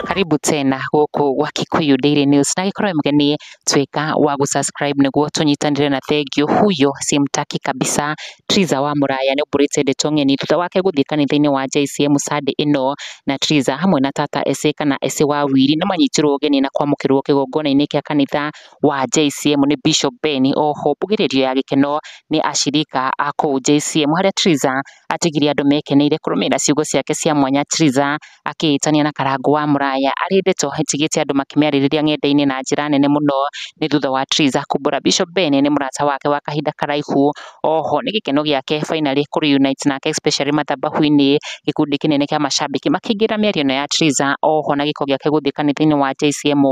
Karibu tena gũkũ gwa Kikuyu Daily News na gĩkorwo mũgeni tuĩka wa gũsubscribe nĩguo tũnyitanĩre na thengiũ huyo simtaki kabisa Triza wa Mũraya nĩ ũmbũrĩte ndeto ng'eni thutha wake gũthiĩ kanitha-inĩ wa JCM Sunday ĩno na Triza hamwe na tata Ese kana Ese wa Wili nĩ manyitirwo ũgeni na kwamũkĩrwo kĩgongona-inĩ kĩa kanitha wa JCM nĩ Bishop Ben, o ho mbugĩrĩrio ya gĩkeno nĩ acirika a kũu JCM, harĩa Triza atigire andũ mekeneire kũrũmĩrĩra ciugo ciake cia mwanya Triza akĩĩtania na Karangũ wa Mũraya arĩ ndeto ĩtigĩte andũ makĩmĩarĩrĩria ng'enda-inĩ na njĩra nene mũno, nĩ thutha wa Triza kumbũra Bishop Ben nĩ mũrata wake wa kahinda karaihu, o ho nĩ gĩkeno gĩake finally kũ reunite nake especially mathabahu-inĩ, gĩkundi kĩnene kĩa macambĩki makĩingĩra mĩario-inĩ ya Triza, o ho na gĩko gĩake gũthiĩ kanitha-inĩ wa JCM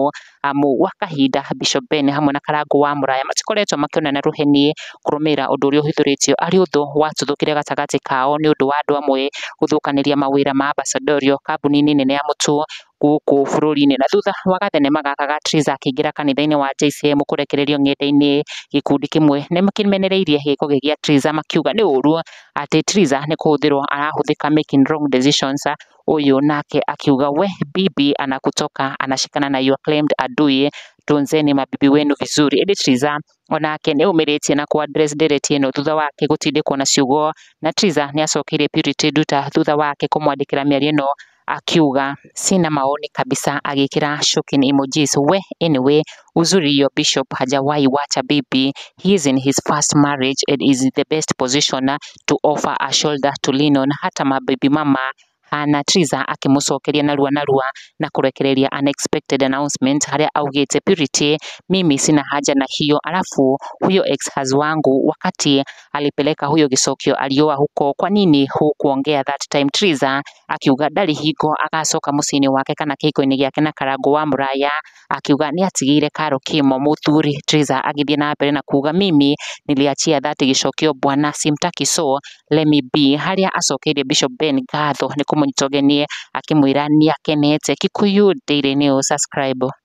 amu gwa kahinda Bishop Ben hamwe na Karangũ wa Mũraya matikoretwo makĩonana rũheni kũrũmĩrĩra ũndũ ũrĩa ũhithũrĩtio arĩ ũndũ watuthũkire gatagatĩ kao nĩ ũndũ wa andũ amwe gũthũkanĩria mawĩra ma Ambassadorial kambuni-inĩ nene ya Mũtuo gũkũ bũrũri-inĩ. Na thutha wa gathenema gaka ga Triza akĩingĩra kanitha-inĩ wa JCM kũrekererio ng'enda-inĩ, gĩkundi kĩmwe nĩ kĩmenereirie gĩko gĩa Triza makiuga nĩ ũũru atĩ Triza nĩ kũhũthĩrwo arahũthĩka making wrong decisions Huyu nake akiuga we bibi anakutoka anashikana na your claimed adui tunzeni mabibi wenu vizuri ĩndĩ Triza onake nĩ ũmĩrĩtie na kwa dress ndereti ĩno thutha wake gũtindĩkwo na ciugo na Triza nĩ acokeire Purity nduta thutha wake kũmwandĩkĩra mĩario ĩno akiuga sina maoni kabisa agĩkĩra shocking emojis we anyway Uzuri your bishop hajawahi wacha bibi, he is in his first marriage and is in the best position to offer a shoulder to lean on. Hata mabibi mama hana Triza akĩmũcokeria narua narua na kũrekereria unexpected announcement harĩa augĩte Purity, mimi sina haja na hiyo, alafu huyo ex haz wangu wakati alipeleka huyo gĩcokio alioa huko, kwa nini hukuongea that time? Triza akiuga ndarĩ hingo agacoka mũciĩ-inĩ wake kana kĩhiko-inĩ gĩake na karango wa mũraya akiuga nĩ atigĩire Karo Kĩmo mũthuri. Triza agĩthiĩ na mbere na kuuga Mimi niliachia that gĩcokio bwana simtaki so let me be harĩa acokeirie Bishop Ben ngatho nĩ kũmũnyita ũgeni akĩmwĩra nĩ akenete. Kikuyu Daily News, subscribe.